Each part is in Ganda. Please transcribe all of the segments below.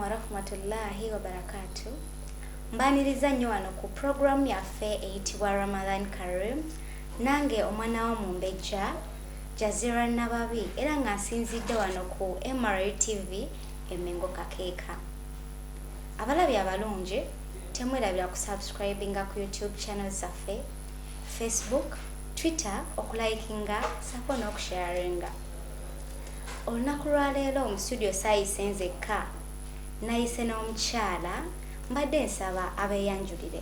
warahmatullahi wabarakatu mbaniriza nnyo wano ku puroguramu yaffe eyitibwa ramadan karim nange omwana wo mumbejja jazira nababi era nga nsinzidde wano ku mra tv e Mengo Kakeeka. Abalabi abalungi temwerabira ku subscribinga ku YouTube channel zaffe, Facebook, Twitter okulikinga sako n'okusharinga. Olunaku lwaleero mu studio saayise nzekka nayise n'omukyala mbadde nsaba abeeyanjulire.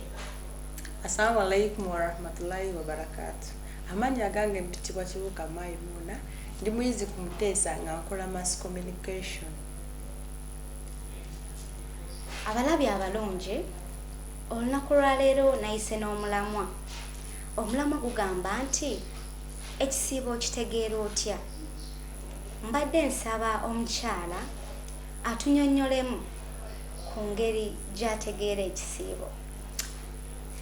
Assalamu alaikum warahmatullahi wabarakatu. Amannya gange mpitibwa Kibuuka Maimuuna. Ndi muyizi ku Muteesa nga nkola mass communication. Abalabi abalungi, olunaku lwa leero nayise n'omulamwa. Omulamwa gugamba nti ekisiibo okitegeera otya? Mbadde nsaba omukyala atunyonyolemu ku ngeri gyategeera ekisiibo.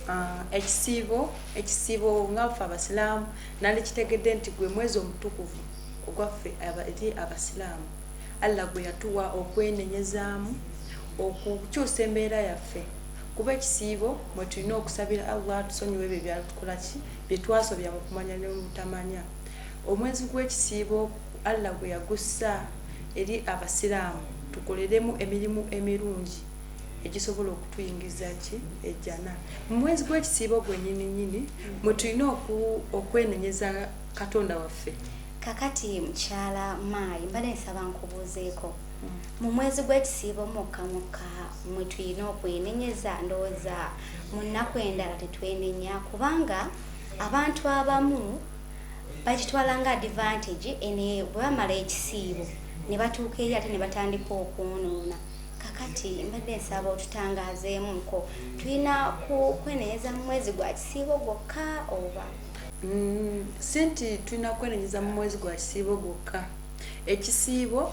Ah, ekisiibo, ekisiibo nga ffe abasiraamu Nandikitegedde nti gwe mwezi omutukuvu ogwaffe eri Abasiraamu, Allah gwe yatuwa okwenenyezaamu, okukyusa embeera yaffe, kuba ekisiibo mwe tulina okusabira Allah atusonyiwe ebyo ebyatukola ki bye twasobya mu kumanya ne mu butamanya. Omwezi gw'ekisiibo Allah gwe yagussa eri Abasiraamu tukoleremu emirimu emirungi. egisobola okutuyingiza ki ejjana mu mwezi gw'ekisiibo gwenyini nyini mwe tulina okwenenyeza katonda waffe kakati mukyala maayi mbadde nsaba nkubuuzeeko mm. mu mwezi gw'ekisiibo mukka mukka mwe tulina okwenenyeza ndowooza mu nnaku endala tetwenenya kubanga abantu abamu bakitwala nga advantage ene bwe bamala ekisiibo ne batuuka eri ate ne batandika okwonoona kakati mbadde nsaba otutangaazeemuko tulina kwenenyeza mu mwezi gwa kisiibo gwokka oba mm, si nti tulina kwenenyeza mu mwezi gwa kisiibo gwokka ekisiibo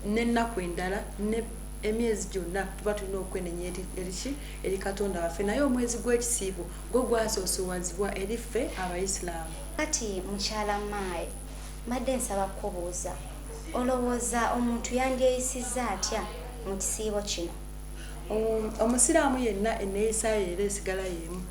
n'ennaku endala ne emyezi gyonna tuba tulina okwenenya eriki eri katonda waffe naye omwezi gw'ekisiibo gwo gwasoosowazibwa eri ffe abaisiraamu kati mukyala maayi Mbadde nsaba kukubuuza, olowooza omuntu yandyeyisizza atya mu kisiibo kino? Um, omusiraamu yenna enneeyisa ye era esigala yeemu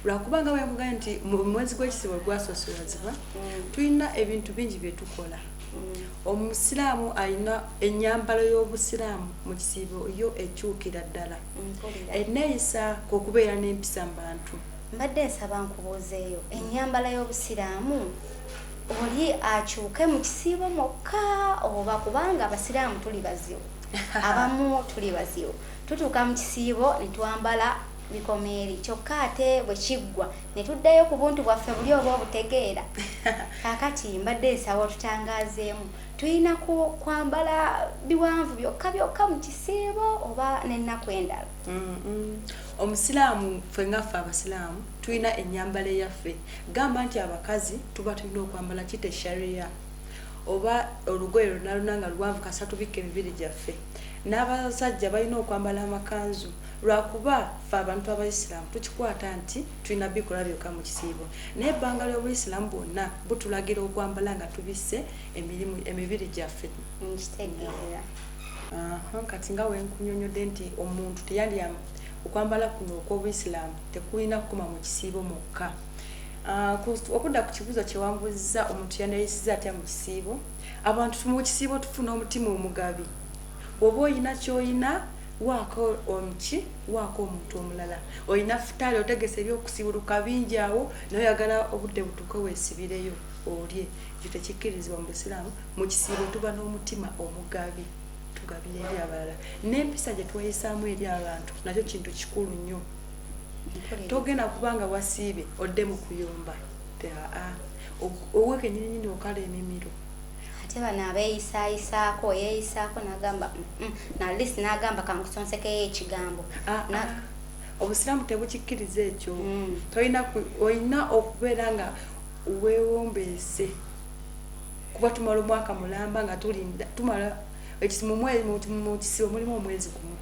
lwakuba nga bwenkugambye nti mu mwezi gw'ekisibo gwasoosolazibwa mm. tulina ebintu bingi bye tukola mm. omusiraamu alina ennyambalo y'obusiraamu mu kisiibo yo ekyukira ddala mm, enneeyisa kwekubeera n'empisa mu bantu mbadde nsaba nkubuuzeeyo ennyambala y'obusiraamu oli akyuke mu kisiibo mwokka oba kubanga abasiraamu tuli bazibu abamu tuli bazibu tutuuka mu kisiibo ne twambala bikomeeri kyokka ate bwe kiggwa ne tuddayo ku buntu bwaffe buli oba obutegeera kaakati mbadde nsaba otutangaazeemu tulina kwambala biwanvu byokka byokka mu kisiibo oba n'ennaku endala omusiraamu ffe ngaffe abasiraamu tulina enyambala eyaffe gamba nti abakazi tuba tulina okwambala kite sharia oba olugoye lunaluna nga luwanvu kasa tubikka emibiri gyaffe n'abasajja balina okwambala amakanzu lwakuba fe abantu abaisiramu tukikwata nti tulina bikola byokka mu kisiibo naye ebbanga ly'obuisiramu bwonna butulagira okwambala nga tubisse emirimu emibiri gyaffe nkitegeera kati nga wenkunyonyodde nti omuntu teyalya okwambala kuno okw'obuisiramu Tekulina kukoma mu kisiibo mwokka. Okudda ku kibuuzo kye wambuuzizza omuntu yaneyisiza atya mu kisiibo, abantu mu kisiibo tufuna omutima omugabi. Bw'oba olina ky'olina waako omuki waako omuntu omulala olina futaali otegese ebyokusiwuluka bingi awo naye oyagala obudde butuuke weesibireyo olye ekyo tekikkirizibwa mu busiraamu mu kisiibo tuba n'omutima omugabi tugabira eri abalala n'empisa gye tweyisaamu eri abantu nakyo kintu kikulu nnyo togenda kubanga wasiibye odde mu kuyomba aa owe kenyininyini okala emimiro ate bano abeeyisayisaako yeeyisaako nagamba mm, mm, nalis nagamba kankusonsekeyo ekigambo ah, ah. obusiraamu tebukikkiriza ekyo mm. tolina olina okubeera nga weewombeese kuba tumala omwaka mulamba nga tulinda tumala mukisibo mulimu omwezi gumu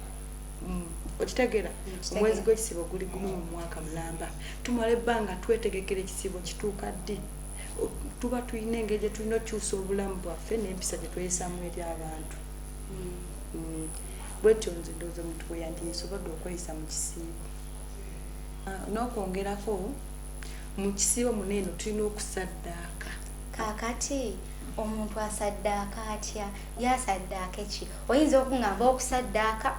mm. okitegera omwezi gwekisibo guli gumu mu mwaka mulamba tumala ebbanga twetegekera ekisibo kituuka ddi tuba tulina engeri gyetulina okyusa obulamu bwaffe nempisa gyetweyisamu eri abantu mm. Mm. bwetyo nze ndooza omuntu bweyandiyisobodde okweyisa mu kisiibo ah, n'okwongerako mu kisiibo muneeno tulina okusaddaaka kaakati omuntu asaddaaka atya yasaddaaka eki oyinza okungamba okusaddaaka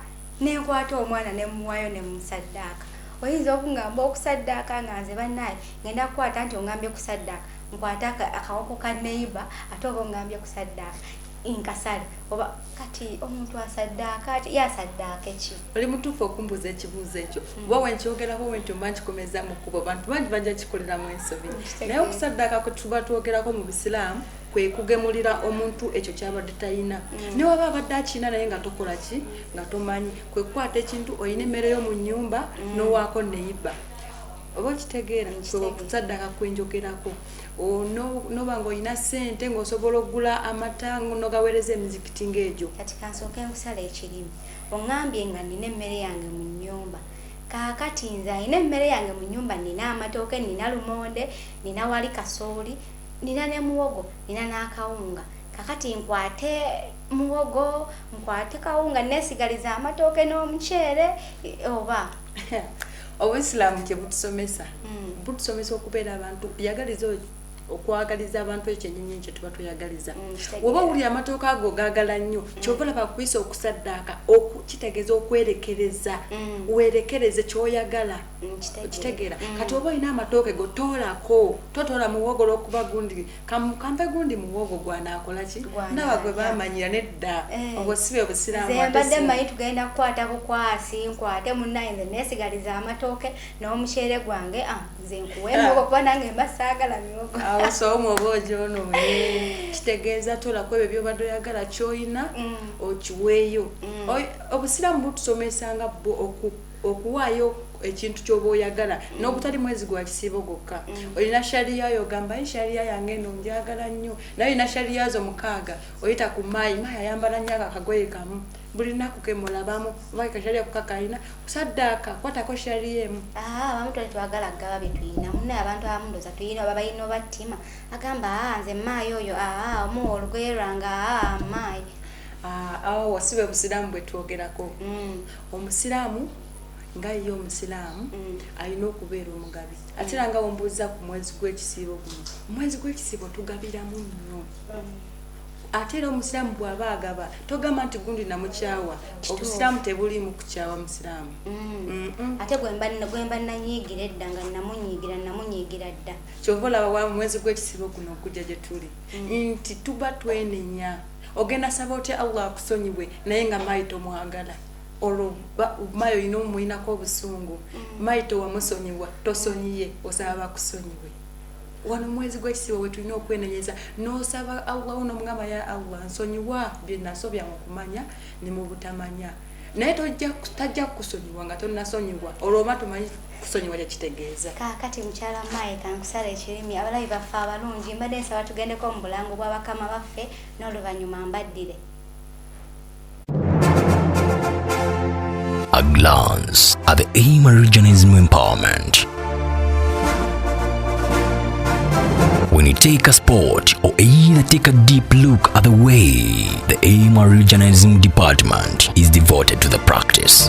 nenkwata omwana nemuwayo nemusaddaaka oyinza okungamba okusaddaaka nga nze banaye ngenda kukwata nti ongambye kusaddaaka nkwata akawoko ka neiba ate oba ongambye kusaddaaka inkasale oba kati omuntu asaddaaka ati yasaddaaka eki oli mutuufu okumbuuza ekibuuzo ekyo hmm. kuba wenkyogerako wenti oba nkikomeza mu kkubo abantu bangi bajja kikoleramu ensobi naye okusaddaaka kwe tuba twogerako mu busiraamu kwe kugemulira omuntu ekyo kyabadde talina hmm. newaba abadde akirina naye nga tokola ki nga tomanyi kwe kukwata ekintu olina emmere yo mu nnyumba hmm. nowaako neyibba oba okitegeera kwe okusaddaaka kwenjogerako noba nga olina sente ngaosobola okugula amata nogawereza emizikiti ngaegyo kati kansooka enkusala ekirimi oŋambye nga nina emmere yange mu nyumba kakati nze alina emmere yange mu nyumba nina amatooke nina lumonde nina wali kasooli nina ne muwogo nina n'akawunga kakati nkwate muwogo nkwate kawunga nesigaliza amatooke n'omuceere oba obusiraamu kye butusomesa hmm. butusomesa okubeera abantu yagaliza okwagaliza abantu ekyenyinyi kye tuba tweyagaliza hmm, oba wuli amatooka ago gaagala nnyo hmm. kyova laba kuyisa okusaddaaka kitegeeza okwerekereza werekereze kyoyagala okitegeera kati oba olina amatooke go toolako totoola muwogo lwokuba gundi kampe gundi muwogo gwanaakolaki ndaba gwe bamanyira nedda eh. obwo sibe busiramumbadde manyi tugenda kukwata bukwasi nkwate munaye nze nesigaliza amatooke n'omuceere gwange ah, nze nkuwe ah. muwogo kuba nange mba saagala miwogo awo soomu oba ojonoonye eh. kitegeeza tolako ebyo byobadde oyagala kyoyina mm. okiweeyo mm. obusiraamu butusomesanga bwo okupa okuwaayo ekintu kyoba oyagala mm. nogutali mwezi gwa kisiibo gwokka mm. olina shariya yo ogamba ye shariya yange eno njagala nnyo naye olina shariya zo mukaaga oyita ku maayi maayi ayambala nnyo ako akagoye kamu buli lunaku kemulabamu oba kashariya kukakalina kusaddaaka kwatako shariya emu ah, abamu twali twagala kugaba byetulina munaye abantu abamu ndoza tuyina oba balina oba ttima agamba ah, nze maayi oyo ah, omuwa olugoye lwange maayi awo wasibe busiraamu bwetwogerako mm. omusiraamu nga ye omusiraamu mm. alina okubeera omugabi ate era nga wembuuza ku mwezi gw'ekisiibo guno omwezi gw'ekisiibo tugabiramu nnyo mm. ate era omusiraamu bw'aba agaba togamba nti gundi namukyawa obusiraamu tebuliimu kukyawa musiraamu mm. ate gwemba nanyiigira edda nga namunyiigira namunyiigira dda kyova olaba wa mwezi gw'ekisiibo guno okujja gye tuli nti tuba twenenya ogenda saba otya allah akusonyiwe naye nga mayi tomwagala olwo mayi olina omumuyinako obusungu mm. mayi towamusonyiwa tosonyiye osaba bakusonyiwe wano mwezi gwekisibo wetulina okwenenyeza nosaba allah uno mugamba ya allah nsonyiwa byenasobya mukumanya nemubutamanya naye tajja kukusonyiwa nga tonasonyiwa olwo oba tumanyi kusonyiwa kyekitegeeza kaakati mukyala maayi kankusala ekirimi abalabi baffe abalungi mbadde nsaba tugendeko mu bulango bwa bakama baffe n'oluvannyuma mbaddire A glance at the aim of regionalism empowerment. When you take a sport or either take a deep look at the way the aim of regionalism department is devoted to the practice.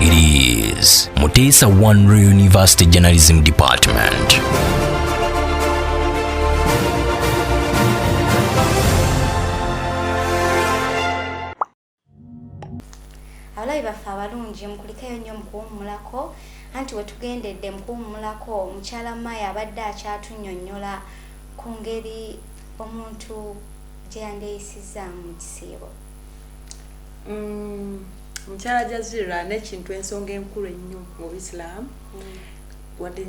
It is Mutesa One Real University Journalism Department. abalabi baffe abalungi mukulikeyo nnyo mukuwummulako anti wetugendedde mukuwummulako mukyala maya abadde akyatunyonyola ku ngeri omuntu gye yandeeyisizaamu mu kisiibo mm, mukyala mm, jazira nekintu ensonga enkulu ennyo mu buisiramu mm. wadde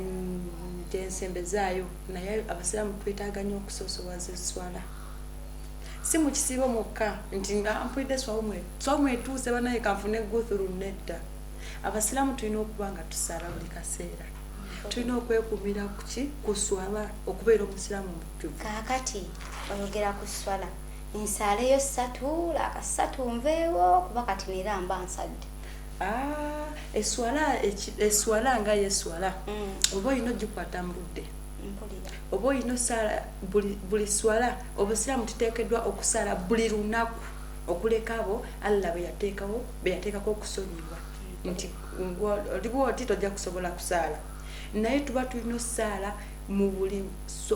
gyensembezaayo naye abasiraamu twetaaga nnyo okusosowaza eswala si mu kisiibo mwokka nti nga mpulidde swawumwe swawumwe etuuse banaye kanfune guthuru nedda abasiraamu tulina okuba nga tusaala buli kaseera tulina okwekumira kuki kuswala okubeera omusiraamu mujjuvu kakati oyogera ku swala Nsaaleyo ssatu laaka ssatu nveewo kuba kati neera mba nsadde. Ah, eswala eswala nga yeswala mm. oba olina ogikwata mu budde oba olina osaala buli swala obusiraamu tuteekeddwa okusaala buli lunaku okuleka abo allah beyateekawo beyateekako okusonyibwa mm. nti olibwa oti tojja kusobola kusaala naye tuba tulina osaala mu buli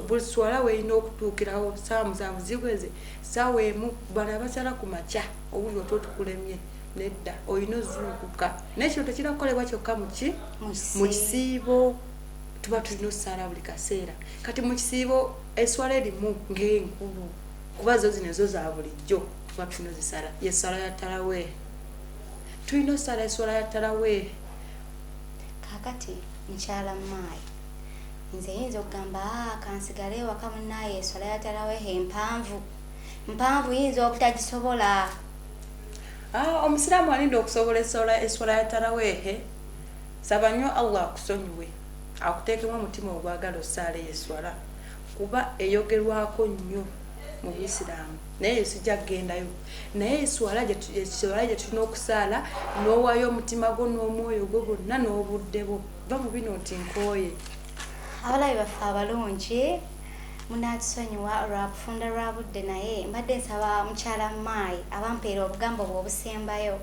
buli swala weyina okutuukirawo saawa musanvu ziweze saawa emu bano abasala ku makya owuli otwo tukulemye nedda olina ozuukuka naye kino tekira kukolebwa kyokka muki mu kisiibo tuba tulina osaala buli kaseera kati mu kisiibo eswala erimu ng'enkulu kuba zo zino ezo za bulijjo tuba tulina ozisala yesala ya taraweeh tulina osala eswala ya taraweeh kakati mukyala maayi Nze yinza okugamba aa kansigale ewaka munaye eswala ya tarawehe mpanvu mpanvu yinza obutagisobola ah, omusiraamu alinda okusobola eswala ya tarawehe saba nyo allah akusonyiwe akutekemu omutima ogwagala osaala eyo eswala kuba eyogerwako nnyo mu buisiraamu naye eyo sijja kugendayo naye eswala gyetulina okusaala n'owaayo omutima gwo n'omwoyo gwo gwonna n'obudde bwo va mu bino nti nkooye abalabi baffe abalungi munatusonyiwa lwa kufunda lwa budde naye mbadde nsaba mukyala maayi abampeera obugambo bwe obusembayo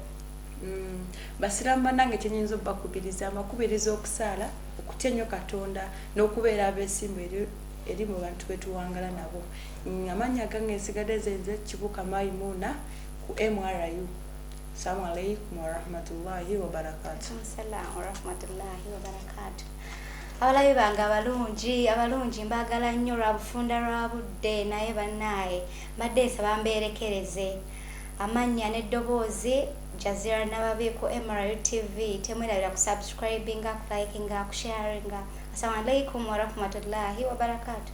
mm, basiraamu banange kyenyinza obubakubiriza amakubiriza okusaala okutya ennyo katonda n'okubeera abeesimbu eri eri mu bantu betuwangala nabo amannya gange nsigadde zenze kibuka maimuuna ku mru Assalamu alaikum warahmatullahi wabarakatu. Assalamu warahmatullahi wabarakatu. Abalabi bange abalungi abalungi mbaagala nnyo lwa bufunda lwa budde naye bannaaye mbadde nsaba mbeerekereze amannya n'eddoboozi jazira nababi ku mru tv temwerabira ku subscribinga ku likinga ku sharinga assalamu alaikum warahmatullahi wabarakatuh